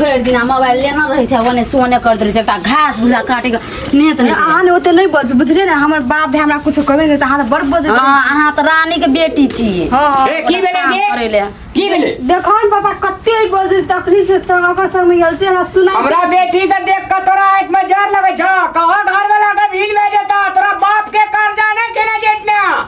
भरि दिना मोबाइल लेना रहै छै ओने से ओने करैत रहै छै एकटा घास भूसा काटिके नेत नहि छै। अहाँ ने ओते नहि बज बुझलियै ने हमर बाप भाय हमरा कुछ कहबे नहि तऽ अहाँ तऽ बड़ बज हाँ अहाँ तऽ रानीके बेटी छियै हाँ हाँ ए, की भेलै काम बे? करै ले की भेलै देखो ने पापा कते बज तकलीफ से संग ओकर संग में गेल छै हमरा सुना हमरा बेटी के देख के तोरा आंख में जर लगे छ कहो घर वाला के भील भेजे त तोरा बाप के कर्जा नहीं केने जेट में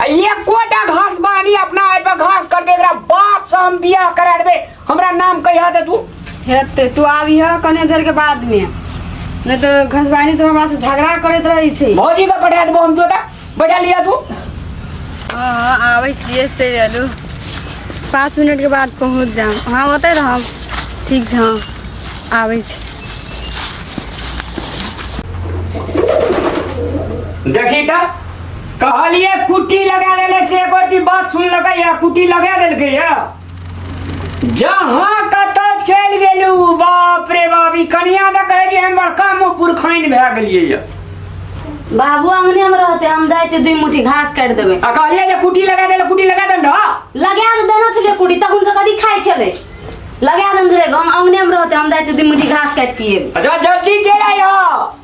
आ एकोटा घास बानी अपना आय पर घास कर दे एकरा बाप से हम बियाह करा देबे हमरा नाम कहिया दे तू हेते तू आबी है कने देर के बाद में नहीं तो घसवानी से हमरा से झगड़ा करत रही छी भौजी के पठा देबो हम जोता बैठा लिया तू हाँ आबै छियै चलि अयलू पाँच मिनटके बाद पहुँच जाम अहाँ ओतै रहब ठीक छै हँ आबै छी देखी त कहलिए कुटी लगा लेले से एक की बात सुन लगा या कुटी लगा देल के या जहां कत चल गेलू बाप रे बाप ई कनिया द कहे कि हम बड़का मुंह पुरखाइन भए गेलिए या बाबू अंगने में रहते हम जाए छे दुई मुट्ठी घास काट देबे आ कहलिए जे कुटी लगा देले कुटी लगा देन ढा लगा दे देना छले कुड़ी तब उनसे कदी खाए छले लगा दे छले हम अंगने में रहते हम जाए छे दुई मुट्ठी घास काट पिए अच्छा जल्दी चल आयो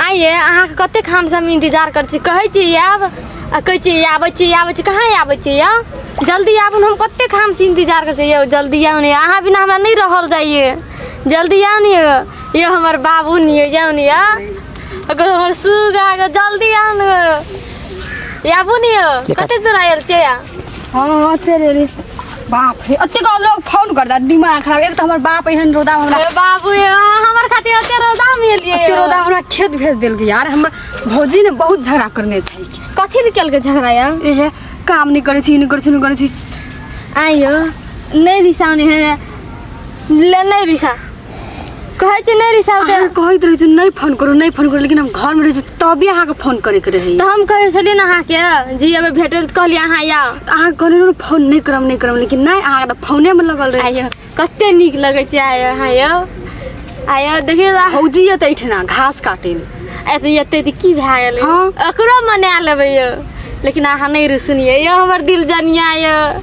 आइए अहाँके कते खाम से हम इंतजार कर छी कहै छी आयब आ कहै छी आबै छी आबै छी कहाँ आबै छी यौ जल्दी आबू ने हम कते खाम से इंतजार कर छी यौ जल्दी आउ ने अहाँ बिना हमरा नहीं रहल जाइए जल्दी आउ ने यौ हमर बाबू ने यौ जाउ ने यौ अगर हमर सुगा जल्दी आउ ने आबू ने यौ कते दूर आयल छियै हाँ हाँ चल रे बाप रे अतेक लोग फोन कर दा दिमाग खराब एक तो हमर बाप एहन रोदा हमरा ए बाबू ये हमर खातिर अते रोदा में लिए अते रोदा हमरा खेत भेज देल के यार हमर भौजी ने बहुत झगड़ा करने छै कथी ले केलके झगड़ा यार एहे काम नहीं करे छी नहीं करे छी नहीं करे छी आइयो नहीं रिसाउने है ले नहीं रिसा कहै छै नहि रिसाव दे अहाँ कहैत रहै छियै नहि फोन करू नहि फोन करू लेकिन हम घरमे रहै छी तबे अहाँके फोन करैके रहैए तऽ हम कहै छलियै ने अहाँके जी अबे भेटल तऽ कहलियै अहाँ आउ तऽ अहाँ कहलहुँ ने फोन नहि करब नहि करब लेकिन नहि अहाँके तऽ फोनेमे लगल रहै आइयो कते नीक लगै छै आइयो अहाँ यौ आइयो देखियौ तऽ भौजी एतै एहिठिना घास काटै लए एतै एतै तऽ की भए गेलै हाँ। ओकरो मना लेबै यौ लेकिन अहाँ नहि रुसुनियै यौ हमर दिल जनिया यौ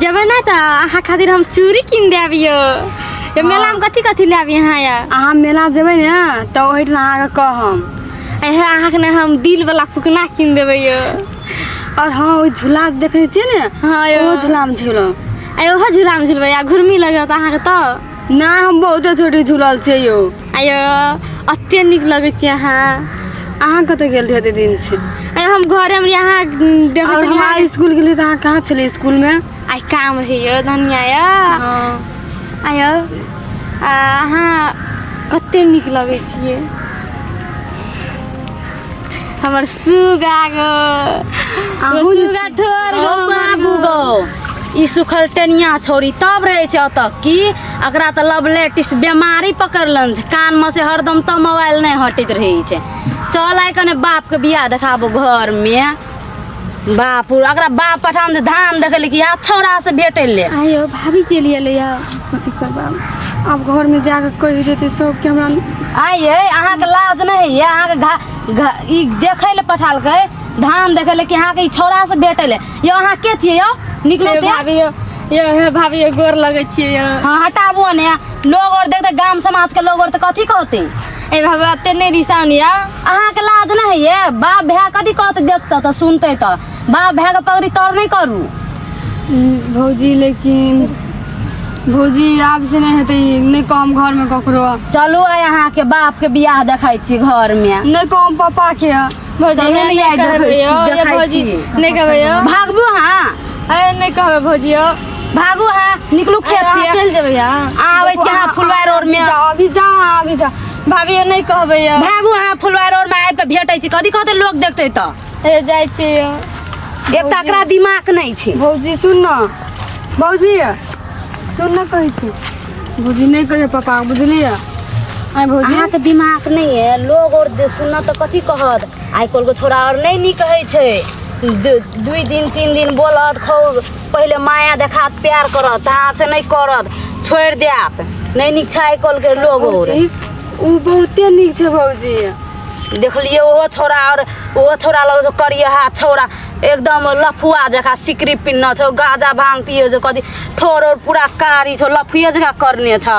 जब ना तो अहाँ खातिर हम चूड़ी किन दे अबियो ये मेला में कथी कथी ले अबियो अहाँ या अहाँ मेला जेबै ने तऽ ओहि ठाम अहाँके कहम अहे अहाँ के ना हम दिल वाला फुकना किन देबै यो आओर हँ ओहि झूला देखने छियै ने हाँ यो ओहो झूलामे झूलब अरे ओहो झूला में झूलबै या घुर्मी लगत अहाँ के तो ना हम बहुते छोटी झूलल छियै यौ आयो अते नीक लगै छै अहाँ अहाँ कतऽ गेल रहियै एते दिन से आयो हम घरे में यहाँ देखै और छलियै हमारे स्कूल के लिए तो अहाँ कहाँ छलियै स्कूल में आइ काम रहै यो धनिया यो हाँ। आयो आ, अहाँ कते नीक लगै छियै हमर सुगा गो अहूँ जे सुगा छी। ठोर गो ओ बाबू गो ई सुखल टेनिया छोरी तब रहै छै ओतऽ की एकरा तऽ लव लेटिस बेमारी पकड़लन छै कानमे से हरदम तऽ मोबाइल नहि हटैत रहै छै चल आइ कने बापके बियाह देखाबो घरमे बाप अकरा बाप पठान से धान देखे ले कि यहाँ छौड़ा से भेटे ले आयो भाभी के लिए ले आ कथी करबा अब घर में जाके कहि देते सब के हमरा आइए अहाँके लाज नहीं है ये अहाँके घा, घा ई देखे ले पठाल के धान देखे ले कि अहाँके ई छौड़ा से भेटे ले यो अहाँ के थिए यो निकलो हे ते भाभी यो यो हे भाभी यो गोर लगै छियै यो हाँ हटाबो ने लोग और देखते गांव समाज के लोग और तो कथी कहते ए बाबा एते नहि रिसान या अहाँके लाज नहि होइए बाप भाय कथी कहत देखतै तऽ सुनतै तऽ बाप भायके पगड़ी तर नहि करू भौजी लेकिन भौजी आब से नहि हेतै नहि कहम घरमे ककरो चलू आइ अहाँके बापके बियाह देखै छी घरमे नहि कहम पापाके भौजी चलू एहन ने आइ देखै छी, देखै छी। नहि कहबै यौ भागबू अहाँ अरे नहि कहबै भौजी यौ भागू हाँ निकलू खेत अहाँ से चलि जेबै अहाँ अहाँ अबै छी अहाँ फुलवार रोडमे। जाउ, अभी जाउ अहाँ अभी जाउ भाभी यौ नहि कहबै यौ भागू हाँ फुलवार रोड में आबि के भेटै छी कथी कहते लोग देखते तो हे जाइ छी यौ एक तऽ एकरा दिमाग नहि छै भौजी सुन न भौजी सुन न कहै छी भौजी नहि कहियो पापा बुझलियै आइ भौजी अहाँके दिमाग नहि है लोग और दे- सुनत तऽ कथी कहत आइ काल्हिके छोरा और नहि नीक कहै छै दु- दुइ दिन तीन दिन बोलत खौ पहिले माया देखात प्यार करत अहाँ से नहि करत छोड़ि देत नहि नीक छै आइ काल्हिके लोग और भौजी, उ बहुते नीक छै भौजी देखलिए ओहो छोरा और ओहो छोरा लग जो करिए हा छोरा एकदम लफुआ जका सिकरी पिन्ह छौ गाजा भांग पियो जो कथी ठोर और पूरा कारी छौ लफुए जका करने छौ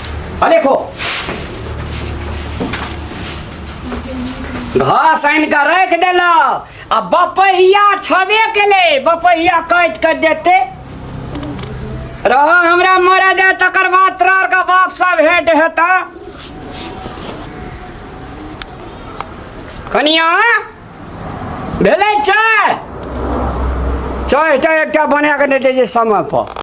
अनेको घास आनि कऽ राखि देलक आ बपहिया छबे केले बपहिया काटि कऽ देते रह हमरा मरे दे तकर बाद तोरा आरके बाप सब भेंट हेता कनिया भेलै चाय चाय टा एकटा बना कऽ नहि दै छै समय पर